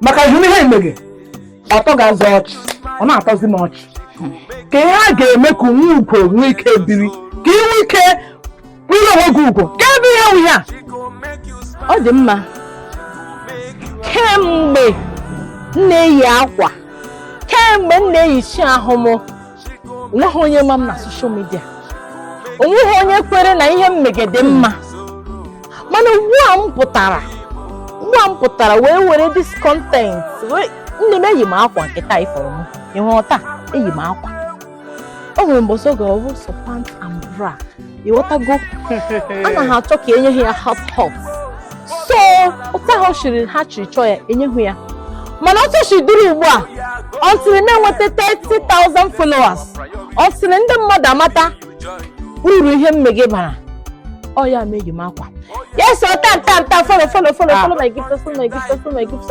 maka ihe ihe i mege ọ tọgazi ọchị ọ na-atọzi m ọchị ka ihe a ga-eme ka nwa ugo nwee ike biri ka ị nwee ike nwere onwe gị ugo ka ebe ihe nwunye a ọ dị mma kemgbe m na-eyi akwa kemgbe m na-eyichi ahụ m onweghị onye ma m na soshal midia onweghị onye kwere na ihe m mege dị mma mana ugbu a m pụtara ugbu a m pụtara wee were decent nne m eyi m akwa nke taa ịfọrọ m ịhụrụ taa eyi m akwa o nwere mgbe ọzọ ga-abụ sọ pant and bra ịghọtago anaghị achọ ka enye ha ya half half so otu ha shiri ha shiri chọọ ya enyeghị ya mana otu o si dịrị ugbu a ọ sịrị m enweta 30,000 followers ọ sịrị ndị mmadụ amata uru ihe m mege bara ọ ya meghị m akwa yes ọ ta ta ta follow follow follow follow my gift follow my gift follow my gift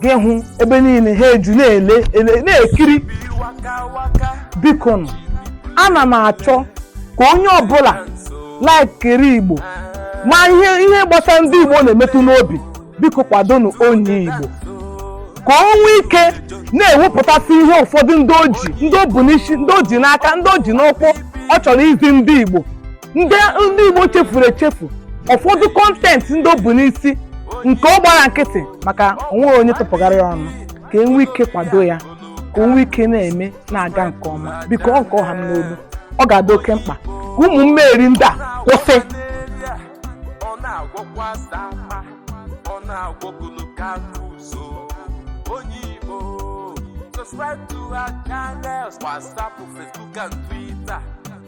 gị hụ ebe niile ha eju na-ele ele na-ekiri biko nụ ana m achọ ka onye ọbụla laikiri igbo ma ihe ihe gbasara ndị igbo na-emetụ n'obi biko kwadonụ onye igbo ka o nwee ike na-ewepụtasị ihe ụfọdụ ndị o ji ndị o bu n'isi ndị o ji n'aka ndị o ji n'ụkwụ ọ chọrọ izi ndị igbo ndị ndị Igbo chefuru echefu ụfọdụ kọntentị ndị o bu n'isi nke ọ gbara nkịtị maka onweghị onye tụpụgara ya ọnụ ka e nwee ike kwado ya ka o nwee ike na-eme na-aga nke ọma biko ọ nke ọha m n'olu ọ ga-adị oke mkpa ka ụmụ mmegheri ndị a kwụsị